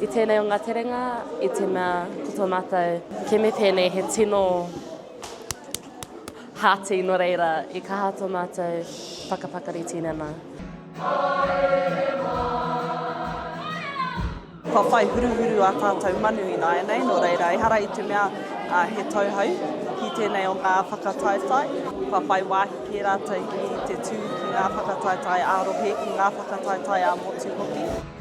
I tēnei o ngā terenga, i te mea ko tō mātou kēme pēnei he tino hāti nō reira i kaha tō mātou whakapakari tīnana. Kua whai huruhuru ā tātou manu ināianei, nō reira, ehara i te mea he tauhou ki tēnei o ngā whakataetae. Kua whai wāhi kē rātou ki te tū ki ngā whakataetae ā-rohe, ki ngā whakataetae ā-motu hoki.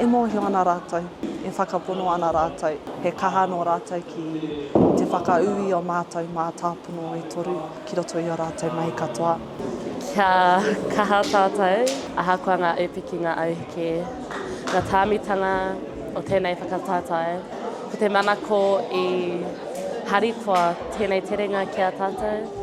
E mōhio ana rātou, e whakapono ana rātou, he kaha anō rātou ki te whakaū i ō mātou mātāpono e toru ki roto i ō rātou mahi katoa. Kia kaha tātou, ahakoa ngā ūpiki, ngā auheke, ngā tāmitanga o tēnei whakataetae. Ko te manako i harikoa tēnei terenga ki a tātou.